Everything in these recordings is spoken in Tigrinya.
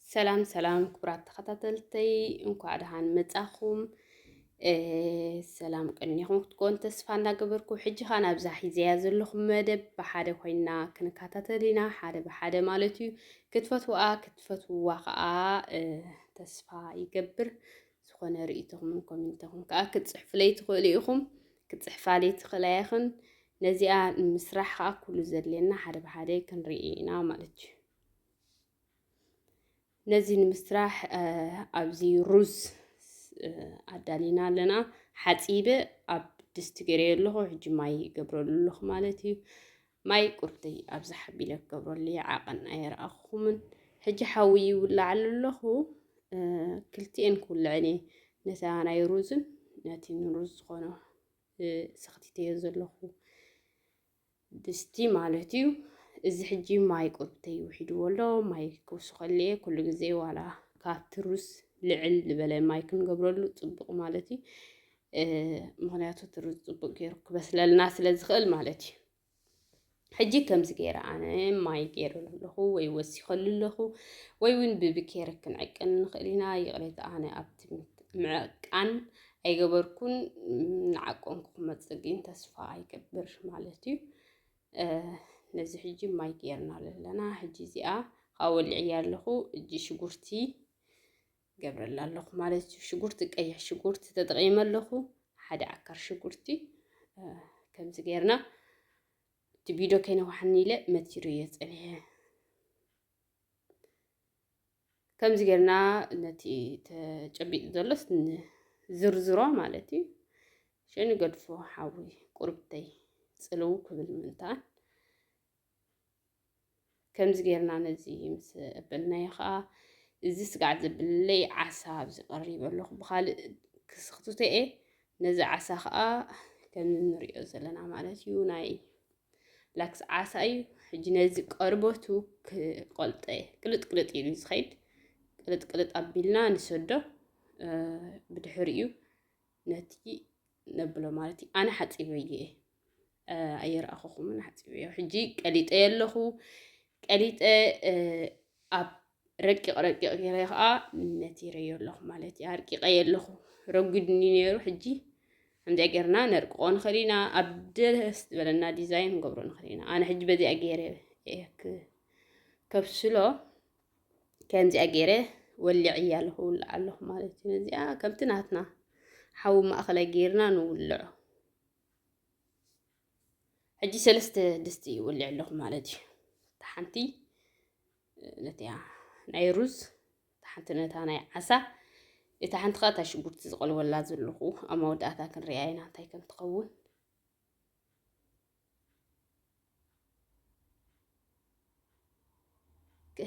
ሰላም ሰላም ክቡራት ተኸታተልተይ እንኳዕ ደሓን መጻኹም። ሰላም ቅኒኹም ክትኮን ተስፋ እናገበርኩ ሕጂ ኸ ናብዛ ሒዘያ ዘለኹ መደብ ብሓደ ኮይና ክንከታተል ኢና ሓደ ብሓደ ማለት እዩ ክትፈትዋ ክትፈትዋ ከዓ ተስፋ ይገብር ዝኾነ ርእይቶኹምን ኮሜንቶኹም ከዓ ክትፅሕፍለይ ትኽእሉ ኢኹም ክትፅሕፋለይ ትኽእላ ኢኽን ነዚኣ ምስራሕ ከዓ ኩሉ ዘድልየና ሓደ ብሓደ ክንርኢ ኢና ማለት እዩ ነዚ ንምስራሕ ኣብዚ ሩዝ ኣዳሊና ኣለና ሓፂበ ኣብ ድስቲ ገይረዮ ኣለኹ ሕጂ ማይ ይገብረሉ ኣለኹ ማለት እዩ ማይ ቁርተይ ኣብዚ ሓቢለ ክገብረሉ ይዓቐን ኣይረኣኹምን ሕጂ ሓዊ ይውላዓሉ ኣለኹ ክልቲኤን ክውልዐን እየ ነታ ናይ ሩዝን ነቲ ንሩዝ ዝኾነ ሰኽቲተዮ ዘለኹ ድስቲ ማለት እዩ እዚ ሕጂ ማይ ቁርብተይ ውሒድዎ ኣሎ ማይ ክውስኸሉ እየ ኩሉ ግዜ ዋላ ካብቲ ሩዝ ልዕል ዝበለ ማይ ክንገብረሉ ፅቡቅ ማለት እዩ ምክንያቱ እቲ ሩዝ ፅቡቅ ገይሩ ክበስለልና ስለ ዝኽእል ማለት እዩ ሕጂ ከምዚ ገይረ ኣነ ማይ ገይረሉ ኣለኹ ወይ ወሲኸሉ ኣለኹ ወይ እውን ብብኬሪ ክንዕቅን ንኽእል ኢና። ይቕሬታ ኣነ ኣብቲ ምዕቃን ኣይገበርኩን ንዓቆንኩ ክመፅእ ግን ተስፋ ኣይገብር ማለት እዩ ነዚ ሕጂ ማይ ገይርና ኣለና ሕጂ እዚኣ ካብ ወሊዕያ ኣለኹ እጂ ሽጉርቲ ገብረላ ኣለኹ ማለት እዩ ሽጉርቲ ቀይሕ ሽጉርቲ ተጠቂመ ኣለኹ ሓደ ዓካር ሽጉርቲ ከምዚ ገይርና እቲ ቪድዮ ከይነዋሓኒ ኢለ መቲሩ እየ ፀኒሐ ከምዚ ጌርና ነቲ ተጨቢጡ ዘሎስ ዝርዝሮ ማለት እዩ ሸንገድፎ ሓዊ ቁርብተይ ጽልው ክብል ምንታን ከምዚ ጌርና ነዚ ምስ እበልናዮ ከዓ እዚ ስጋዕ ዝብለይ ዓሳ ኣብዚ ቀሪበ ኣለኹ ብካልእ ክስክትቶ እየ ነዚ ዓሳ ከዓ ከም እንሪኦ ዘለና ማለት እዩ ናይ ላክስ ዓሳ እዩ። ሕጂ ነዚ ቀርበቱ ክቐልጠ ቅልጥ ቅልጥ ኢሉ ዝኸይድ ቅልጥ ቅልጥ ኣቢልና ንሰዶ ብድሕር እዩ ነቲ ነብሎ ማለት እዩ። ኣነ ሓፂበየ እየ ኣየርኣኸኹምን ሓፂበዮ ሕጂ ቀሊጠ ኣለኹ ቀሊጠ ኣብ ረቂቕ ረቂቕ ገይረ ከዓ ነቲረዮ ኣለኹ ማለት እዩ ኣርቂቐዮ ኣለኹ ረጒድኒ ነይሩ ሕጂ ከምዚኣ ጌርና ነርቅቆ ንኽእል ኢና ኣብ ደስ ዝበለና ዲዛይን ንገብሮ ንኽእል ኢና ኣነ ሕጂ በዚኣ ገይረ ከብስሎ ከምዚኣ ገይረ ወሊዐያ ኣለኹ ውልዕ ኣለኹ ማለት እዩ ነዚኣ ከምቲ ናትና ሓዊ ማእኸላይ ገይርና ንውልዖ ሕጂ ሰለስተ ድስቲ ይውልዕ ኣለኹ ማለት እዩ እታ ሓንቲ ነቲያ ናይ ሩዝ እታ ሓንቲ ነታ ናይ ዓሳ እታ ሓንቲ ከዓ እታ ሽጉርቲ ዝቐልወላ ዘለኹ ኣብ መወዳእታ ክንሪኣ ኢና እንታይ ከም ትኸውን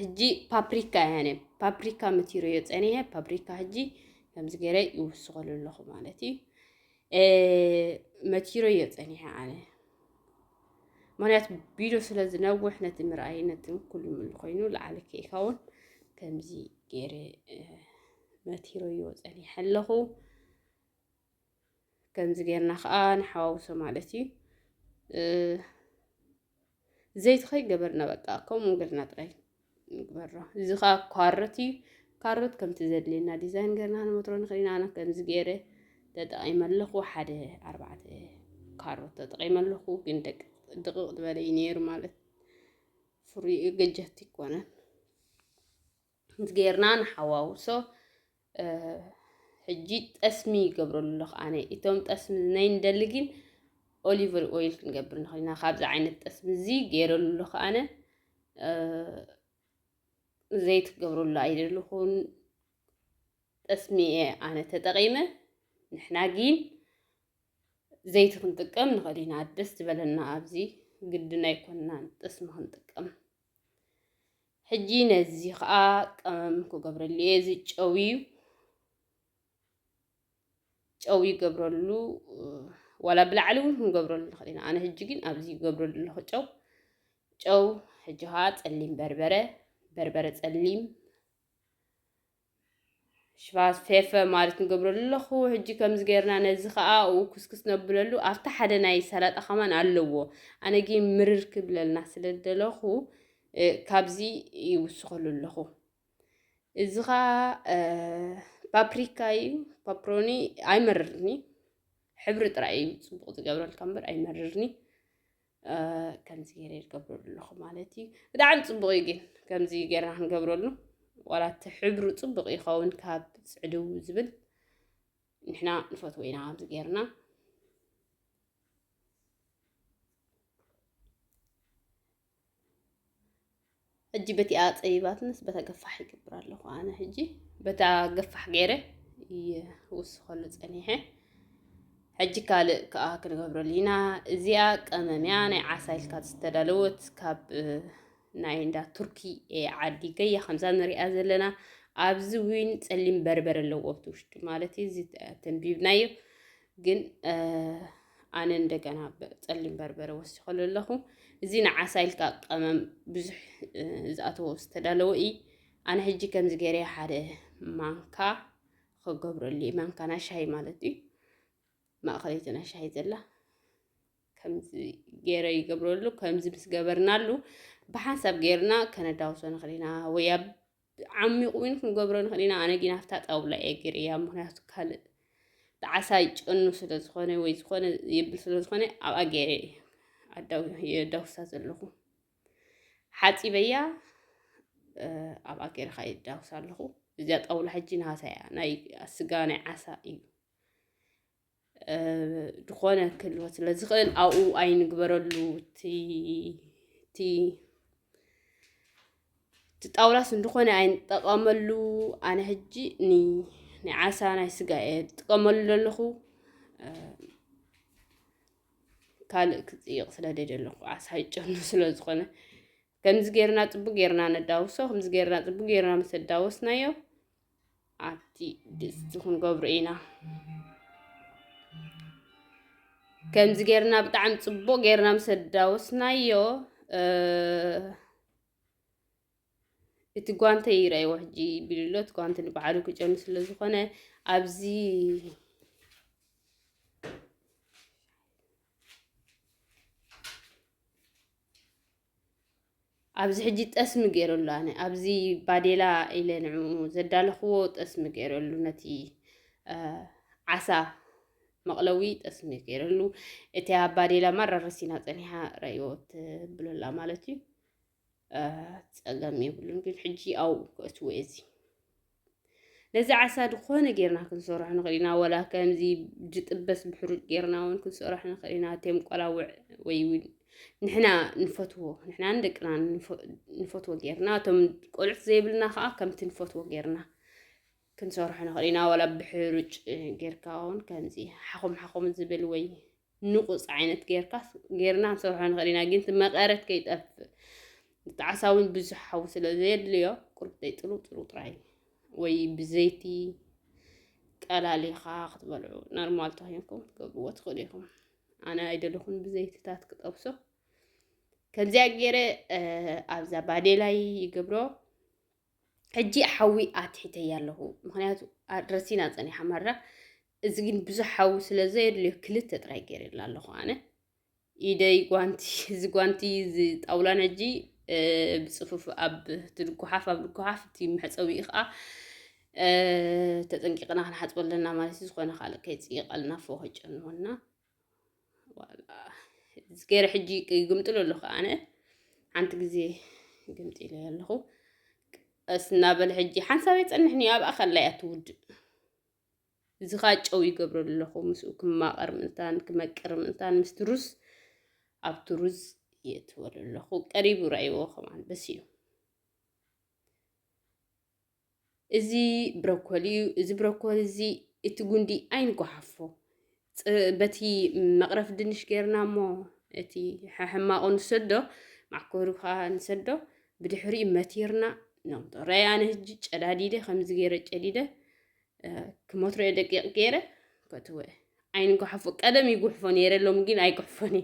ህጂ ፓፕሪካ እያ ነ ፓፕሪካ ምትሮ እዮ ፀኒሐ ፓፕሪካ ህጂ ከምዚ ገይረ ይውስኸሉ ኣለኹ ማለት እዩ መቲሮ እዮ ፀኒሐ ኣነ ምክንያቱ ቢዶ ስለ ዝነውሕ ነቲ ምርኣይ ነቲ ኩሉ ምሉ ኮይኑ ላዓሊ ከይኸውን ከምዚ ገይረ መቲሮ እዮ ፀኒሐ ኣለኹ ከምዚ ጌርና ከዓ ንሓዋውሶ ማለት እዩ ዘይቲ ከይገበርና በቃ ከምኡ ገርና ጥራይ ንግበሮ እዚ ከዓ ኳርት እዩ ካሮት ከምቲ ዘድልየና ዲዛይን ገርና ንመትሮ ንኽእል ኢና ኣነ ከምዚ ገይረ ተጠቒመ ኣለኹ ሓደ ኣርባዕተ ካሮት ተጠቒመ ኣለኹ ግን ደቅቕ ዝበለ እዩ ነይሩ ማለት ፍሩይ ገጀት ይኮነን ከምዚ ጌርና ንሓዋውሶ ሕጂ ጠስሚ ይገብረሉ ኣለኹ ኣነ እቶም ጠስሚ ናይ ንደሊ ግን ኦሊቨር ኦይል ክንገብር ንኽእል ኢና ካብዚ ዓይነት ጠስሚ እዚ ገይረሉ ኣለኹ ኣነ ዘይት ክገብረሉ ኣይደልኹን ጠስሚ እየ ኣነ ተጠቒመ ንሕና ግን ዘይቲ ክንጥቀም ንኽእል ኢና ደስ ዝበለና ኣብዚ ግድን ኣይኮንናን ጠስሚ ክንጥቀም ሕጂ ነዚ ኸኣ ቀመም ክገብረሉ እየ እዚ ጨው እዩ ጨው ይገብረሉ ዋላ ብላዕሊ እውን ክንገብረሉ ንኽእል ኢና ኣነ ሕጂ ግን ኣብዚ ይገብረሉ ኣለኹ ጨው ጨው ሕጂ ኸዓ ጸሊም በርበረ በርበረ ጸሊም ሽፋ ፌፈ ማለት ንገብረሉ ኣለኹ ሕጂ ከምዚ ጌርና ነዚ ከኣ ኡ ኩስኩስ ነብለሉ ኣብቲ ሓደ ናይ ሰላጣ ከማን ኣለዎ ኣነ ግን ምርር ክብለልና ስለ ዝደለኹ ካብዚ ይውስኸሉ ኣለኹ እዚ ከኣ ፓፕሪካ እዩ ፓፕሮኒ ኣይመርርኒ ሕብሪ ጥራይ እዩ ጽቡቕ ዝገብረልካ እምበር ኣይመርርኒ ከምዚ ገይረ ይገብረሉ ኣለኹ ማለት እዩ ብጣዕሚ ፅቡቅ እዩ ግን ከምዚ ገይርና ክንገብረሉ ዋላ እቲ ሕብሩ ፅቡቅ ይኸውን ካብ ፅዕድው ዝብል ንሕና ንፈትዎ ኢና ከምዚ ገይርና ሕጂ በቲኣ ጸቢባትንስ በታ ገፋሕ ይገብር ኣለኹ ኣነ ሕጂ በታ ገፋሕ ገይረ ይውስኸሉ ጸኒሐ ሕጂ ካልእ ከኣ ክንገብረሉ ኢና እዚኣ ቀመምያ ናይ ዓሳ ኢልካ ዝተዳለወት ካብ ናይ እንዳ ቱርኪ ዓዲ ገያ ከምዛ ንሪኣ ዘለና ኣብዚ እውን ፀሊም በርበረ ኣለዎ ኣብቲ ውሽጢ ማለት እዩ እዚ ተንቢብናዮ ግን ኣነ እንደገና ፀሊም በርበረ ወሲኸሉ ኣለኹ እዚ ንዓሳ ኢልካ ቀመም ብዙሕ ዝኣተዎ ዝተዳለወ እዩ ኣነ ሕጂ ከምዚ ገይረ ሓደ ማንካ ክገብረሉ እዩ ማንካ ናይ ሻሂ ማለት እዩ ማእኸለይቲ ናይ ሻሂ ዘላ ከምዚ ገይረ ይገብረሉ ከምዚ ምስ ገበርናሉ ብሓንሳብ ገይርና ከነዳውሶ ንኽእል ኢና ወይ ኣብ ዓሚቝ ውን ክንገብሮ ንኽእል ኢና። ኣነ ግን ኣብታ ጣውላ እየ ገይረያ፣ ምኽንያቱ ካልእ ጣዕሳ ይጨኑ ስለ ዝኾነ ወይ ዝኾነ የብል ስለ ዝኾነ ኣብኣ ገይረ የዳውሳ ዘለኹ ሓፂበያ ኣብኣ ገይረ ከዓ የዳውሳ ኣለኹ። እዚኣ ጣውላ ሕጂ ናሃሳ እያ፣ ናይ ስጋ ናይ ዓሳ እዩ። ዝኾነ ክህልወ ስለ ዝኽእል ኣብኡ ኣይንግበረሉ እቲ እቲ እቲ ጣውላስ እንድኾነ ኣይንጠቐመሉ ኣነ ሕጂ ናይ ዓሳ ናይ ስጋ እየ ዝጥቀመሉ ዘለኹ ካልእ ክፅይቕ ስለ ደይደለኹ ዓሳ ይጨኑ ስለ ዝኾነ ከምዚ ጌርና ጽቡቅ ጌርና ነዳውሶ ከምዚ ጌርና ጽቡቅ ጌርና ምስ ኣዳወስናዮ ኣብቲ ድስቲ ክንገብሮ ኢና ከምዚ ጌርና ብጣዕሚ ጽቡቅ ጌርና ምስ ኣዳወስናዮ እቲ ጓንተ ይረኣይዎ ሕጂ ቢልሎ እቲ ጓንተ ንበዓሉ ክጨኑ ስለ ዝኾነ ኣብዚ ኣብዚ ሕጂ ጠስሚ ገይረሉ ኣነ ኣብዚ ባዴላ ኢለ ንዑ ዘዳለኽዎ ጠስሚ ገይረሉ ነቲ ዓሳ መቕለዊ ጠስሚ ገይረሉ እቲ ኣብ ባዴላ ማራረሲና ፀኒሓ ረእዮ ትብለላ ማለት እዩ ፀገም የብሉን ግን ሕጂ ኣብኡ ክእትዎ እዚ ነዚ ዓሳ ዝኾነ ጌርና ክንሰርሖ ንኽእል ኢና ወላ ከምዚ ዝጥበስ ብሕሩጭ ጌርና እውን ክንሰርሖ ንኽእል ኢና እቴም ቆላውዕ ወይ እውን ንሕና ንፈትዎ ንሕናን ደቅና ንፈትዎ ጌርና እቶም ቆልዑት ዘይብልና ከዓ ከምቲ ንፈትዎ ጌርና ክንሰርሖ ንኽእል ኢና ወላ ብሕሩጭ ጌርካ እውን ከምዚ ሓኹም ሓኹም ዝብል ወይ ንቑጽ ዓይነት ጌርካ ጌርና ክንሰርሖ ንኽእል ኢና፣ ግን እቲ መቐረት ከይጠፍእ እቲ ዓሳ እውን ብዙሕ ሓዊ ስለ ዘየድልዮ ቁርብተይ ጥሩ ጥሩ ጥራይ ወይ ብዘይቲ ቀላሊኻ ክትበልዑ ኖርማል ተኮይንኩም ክትገብርዎ ትኽእሉ ኢኹም። ኣነ ኣይደለኹን ብዘይትታት ክጠብሶ ከምዚያ ገይረ ኣብዛ ባዴላይ ይገብሮ ሕጂ ሓዊ ኣትሒተያ ኣለኹ ምክንያቱ ረሲና ፀኒሓ ማራ እዚ ግን ብዙሕ ሓዊ ስለ ዘየድልዮ ክልተ ጥራይ ገይረላ ኣለኹ ኣነ ኢደይ ጓንቲ እዚ ጓንቲ እዚ ጣውላ ነጂ ብፅፉፍ ኣብ ትድጓሓፍ ኣብ ድጓሓፍ እቲ መሕፀዊ ከዓ ተጠንቂቕና ክንሓፅበለና ማለት እዩ ዝኾነ ካልእ ከይፅይቐልና ፎኸጨንወና ገይረ ሕጂ ይግምጥሉ ኣለኹ ኣነ ሓንቲ ግዜ ግምጢ ኢለ ኣለኹ ቀስ እናበለ ሕጂ ሓንሳብ የፀንሕኒ ኣብኣ ከላ እያ ትውድእ እዚ ከዓ ጨው ይገብረሉ ኣለኹ ምስኡ ክማቐር ምእንታን ክመቅር ምእንታን ምስቲ ሩዝ ኣብቲ ሩዝ የእትወሉ ኣለኹ ቀሪቡ ረኣይዎ ከማን በስ እዩ እዚ ብሮኮሊ እዩ፣ እዚ ብሮኮሊ እዚ እቲ ጉንዲ ኣይንጓሓፎ በቲ መቕረፍ ድንሽ ጌርና እሞ እቲ ሕማቑ ንሰዶ ማዕኮሪ ከዓ ንሰዶ ብድሕሪኡ መቲርና ነምጦ ረይ ኣነ ህጂ ጨዳዲደ ከምዚ ገይረ ጨዲደ ክሞትረዮ ደቂቕ ገይረ ከትወ ዓይን ጉሓፎ ቀደም ይጉሕፎ ነይረ ሎም ግን ኣይጉሕፎን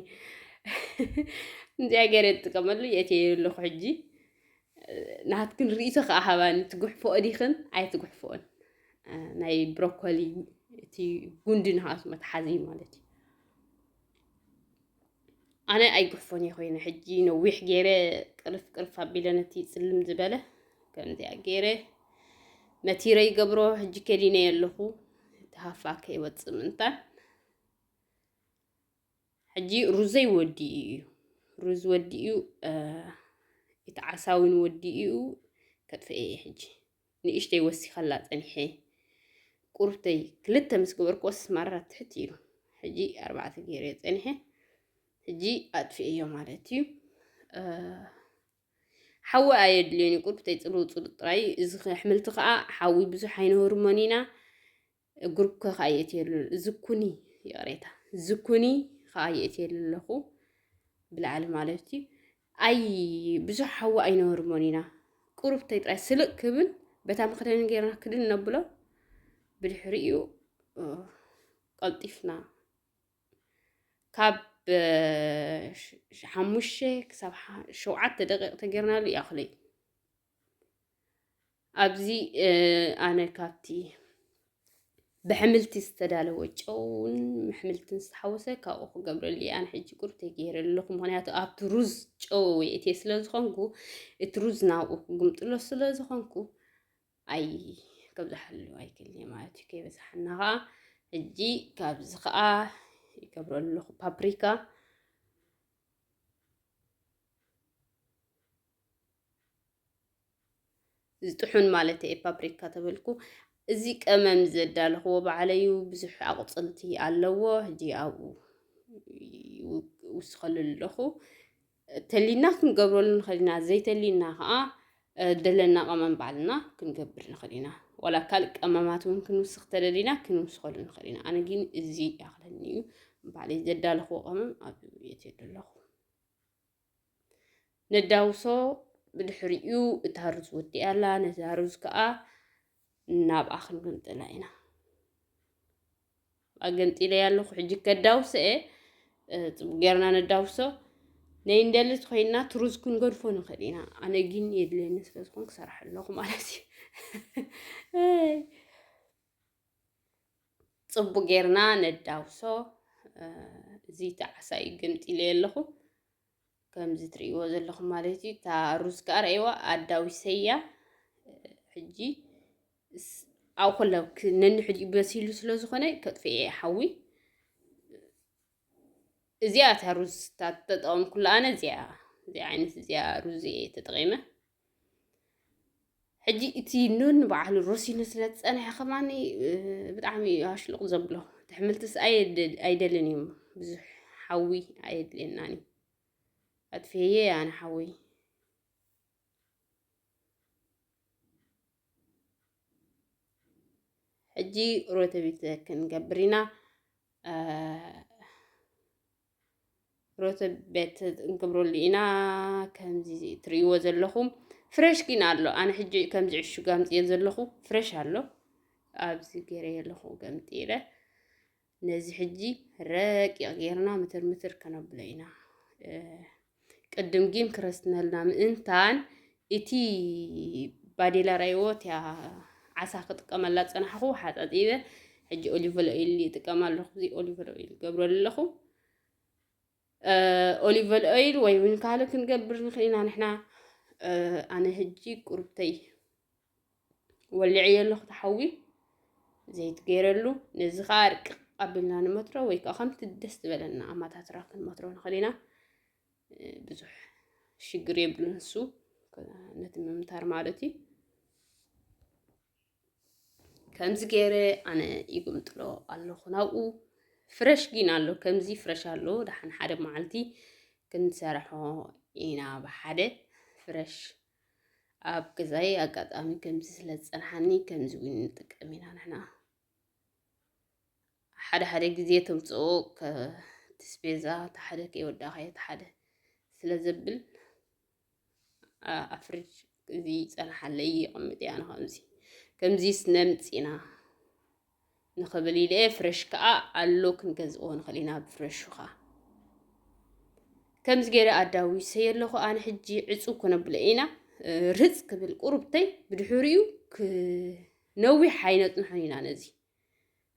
እንዚኣ ገይረ ትጥቀመሉ የት ኣለኹ ሕጂ ናትክን ርእቶ ከዓ ሃባኒ ትጉሕፎኦ ዲኽን ኣይትጉሕፎኦን ናይ ብሮኮሊ እቲ ጉንዲ ንሃሱ መትሓዚ ማለት እዩ ኣነ ኣይግሕፎን እየ ኮይነ ሕጂ ነዊሕ ገይረ ቅርፍ ቅርፍ ኣቢለ ነቲ ፅልም ዝበለ ከምዚያ ገይረ መቲረ ይገብሮ ሕጂ ከዲነ ኣለኹ እቲ ሃፋ ከይወፅእ ምንታን ሕጂ ሩዘይ ወዲኡ እዩ ሩዝ ወዲኡ እቲ ዓሳውን ወዲኡ ከጥፍኤ እየ ሕጂ ንእሽተይ ወሲኸላ ጸኒሐ ቁርብተይ ክልተ ምስ ገበርክዎስ ማራ ትሕት ኢሉ ሕጂ ኣርባዕተ ገይረ ጸኒሐ ሕጂ ኣጥፍኤዮ ማለት እዩ ሓዊ ኣየድልዮን እዩ ቁርብተይ ፅልው ፅሉ ጥራይ እዚ ኣሕምልቲ ከዓ ሓዊ ብዙሕ ኣይንህርሞን ኢና ግሩፕ ከ ከዓ የእትየሉ ዝኩኒ ይቕሬታ ዝኩኒ ከዓ የእትየሉ ኣለኹ ብላዕሊ ማለት እዩ ኣይ ብዙሕ ሓዊ ኣይነበርሞን ኢና ቁሩብተይ ጥራይ ስልቅ ክብል በታ መክደኒ ጌርና ክድን ነብሎ ብድሕሪኡ ቀልጢፍና ካብ ሓሙሽተ ክሳብ ሸውዓተ ደቂቕ ተጌርናሉ ይኣኽለይ ኣብዚ ኣነ ካብቲ ብሕምልቲ ዝተዳለወ ጨውን ምሕምልትን ዝተሓወሰ ካብኡ ክገብረሉ ኣነ ሕጂ ቁርተ ገይረ ኣለኹ። ምክንያቱ ኣብቲ ሩዝ ጨው የእትየ ስለ ዝኾንኩ እቲ ሩዝ ናብኡ ክግምጥሎ ስለ ዝኾንኩ ኣይ ከብዝሓሉ ኣይክል ማለት እዩ። ከይበዝሓና ከዓ ሕጂ ካብዚ ከዓ ይገብረ ኣለኹ ፓፕሪካ ዝጥሑን ማለት እየ ፓፕሪካ ተበልኩ። እዚ ቀመም ዘዳለኽዎ ባዕለዩ ብዙሕ ኣቑፅልቲ ኣለዎ ሕጂ ኣብኡ ይውስኸሉ ኣለኹ ተሊና ክንገብረሉ ንኽእል ኢና ዘይተሊና ከዓ ደለና ቀመም ባዕልና ክንገብር ንኽእል ኢና ዋላ ካልእ ቀመማት እውን ክንውስኽ ተደሊና ክንውስኸሉ ንኽእል ኢና ኣነ ግን እዚ ይኣኽለኒ እዩ ባዕለይ ዘዳለኽዎ ቀመም ኣብ ቤት ኣለኹ ነዳውሶ ብድሕሪኡ እታ ሩዝ ወዲኣ ኣላ ነዛ ሩዝ ከዓ ናብኣ ክንገምጥላ ኢና ኣገምጢለ ኣለኹ ሕጂ ከዳውሰ እየ ፅቡቅ ጌርና ነዳውሶ ነይ እንደልት ኮይና ትሩዝ ክንገድፎ ንኽእል ኢና ኣነ ግን የድልየኒ ስለ ዝኾን ክሰርሐ ኣለኹ ማለት እዩ ጽቡቅ ጌርና ነዳውሶ እዚ ጣዕሳ እዩ ገምጢለዮ ኣለኹ ከምዚ ትርእይዎ ዘለኹም ማለት እዩ እታ ሩዝ ከዓ ረእይዋ ኣዳዊሰያ ሕጂ ኣብ ኩለ ነንሕዲኡ በሲሉ ስለ ዝኾነ ከጥፍኤ ሓዊ እዚኣ እታ ሩዝ ተጠቐምኩላ ኣነ እዚኣ እዚ ዓይነት እዚኣ ሩዝ እየ ተጠቒመ ሕጂ እቲ ኑን በዓሉ ረሲኑ ስለ ዝፀንሐ ከማኒ ብጣዕሚ እዩ ኣሽሉቕ ዘብሎ እቲ ሕምልትስ ኣይደልን እዩ ብዙሕ ሓዊ ኣየድልየናን እዩ ኣጥፍየ ኣነ ሓዊ ሕጂ ሮተቢት ክንገብር ኢና ሮተቤት እንገብረሉ ኢና ከምዚ ትርእይዎ ዘለኹም ፍሬሽ ግን ኣሎ ኣነ ሕጂ ከምዚ ዕሹግ ኣምፅየ ዘለኹ ፍሬሽ ኣሎ ኣብዚ ገይረ ኣለኹ ገምጢረ ነዚ ሕጂ ረቂቕ ጌርና ምትር ምትር ከነብሎ ኢና ቅድም ጊን ክረስትነልና ምእንታን እቲ ባዴላ ራይዎ እቲያ ዓሳ ክጥቀመላ ዝጸናሕኹ ሓጻጺበ ሕጂ ኦሊቨል ኦይል ይጥቀም ኣለኹ እዚ ኦሊቨል ኦይል ገብረ ኣለኹ ኦሊቨል ኦይል ወይ እውን ካልእ ክንገብር ንኽእል ኢና ንሕና ኣነ ሕጂ ቁርብተይ ወሊዐዮ ኣለኹ እቲ ሓዊ ዘይት ገይረሉ ነዚ ከዓ ኣርቅቕ ኣቢልና ንመትሮ ወይ ከዓ ከምቲ ደስ ዝበለና ኣማታትራ ክንመትሮ ንኽእል ኢና ብዙሕ ሽግር የብሉን ንሱ ነቲ ምምታር ማለት እዩ ከምዚ ገይረ ኣነ ይግምጥሎ ኣለኹ ናብኡ ፍረሽ ግን ኣሎ ከምዚ ፍረሽ ኣሎ ደሓን ሓደ መዓልቲ ክንሰርሖ ኢና ብሓደ ፍረሽ ኣብ ገዛይ ኣጋጣሚ ከምዚ ስለ ዝጸንሓኒ ከምዚ እውን ንጥቀም ኢና ንሕና ሓደ ሓደ ግዜ ተምጽኦ እቲ ስፔዛ እቲ ሓደ ከይወዳኸየ እቲ ሓደ ስለ ዘብል ኣፍርጅ እዚ ይጸንሓለይ ይቕምጥ እያ ንኸምዚ ከምዚ ስነምጺና ንክብል ኢለ እየ ፍረሽ ከዓ ኣሎ ክንገዝእዎ ንኽእል ኢና ብፍረሹ ከዓ ከምዚ ገይረ ኣዳዊሰ ኣለኹ ኣነ ሕጂ ዕፁብ ክነብሎ ኢና ርህፅ ክብል ቁርብተይ ብድሕሪኡ ክነዊሕ ኣይነፅንሖን ኢና ነዚ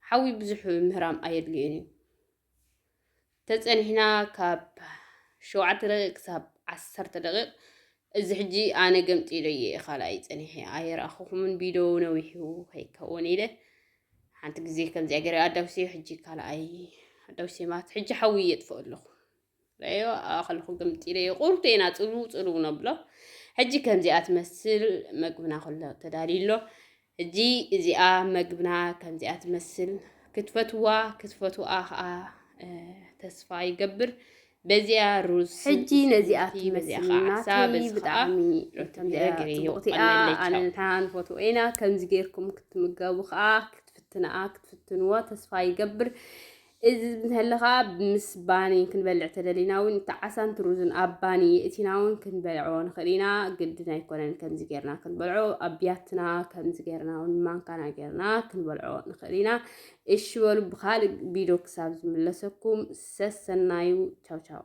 ሓዊ ብዙሕ ምህራም ኣየድልዮን እዩ ተጸኒሕና ካብ ሸውዓተ ደቂቅ ክሳብ ዓሰርተ ደቂቅ እዚ ሕጂ ኣነ ገምጢለዮ እየ ካልኣይ ጸኒሐ ኣይረኣኹኹምን ቢዶ ነዊሑ ከይከውን ኢለ ሓንቲ ግዜ ከምዚኣ ገይረ ኣዳውሰዮ ሕጂ ካልኣይ ኣዳውሰ ማለት ሕጂ ሓዊ የጥፍኦ ኣለኹ ረዮ ኣኸልኹ ግምጢ ረዮ ቁርጡ ኢና ጽልው ጽልው ነብሎ ሕጂ ከምዚኣ ትመስል መግብና ኩሎ ተዳልዩ ኣሎ ሕጂ እዚኣ መግብና ከምዚኣ ትመስል ክትፈትዋ ክትፈትዋ ከኣ ተስፋ ይገብር በዚኣ ሩዝ ሕጂ ነዚኣ ትመስልናቲ ብጣዕሚ ጽቡቕቲኣ ኣነ ንሕና ንፈትዎ ኢና ከምዚ ጌርኩም ክትምገቡ ከዓ ክትፍትንኣ ክትፍትንዎ ተስፋ ይገብር እዚ እንተለ ኸኣ ምስ ባኒ ክንበልዕ ተደሊና ውን እቲ ዓሳን እቲ ሩዝን ኣብ ባኒ የእቲና ውን ክንበልዖ ንኽእል ኢና። ግድን ኣይኮነን ከምዚ ጌርና ክንበልዖ ኣብ ብያትና ከምዚ ጌርና ውን ማንካና ጌርና ክንበልዖ ንኽእል ኢና። እሺ በሉ ብኻልእ ቢዶ ክሳብ ዝምለሰኩም ሰሰናዩ ቻው ቻው።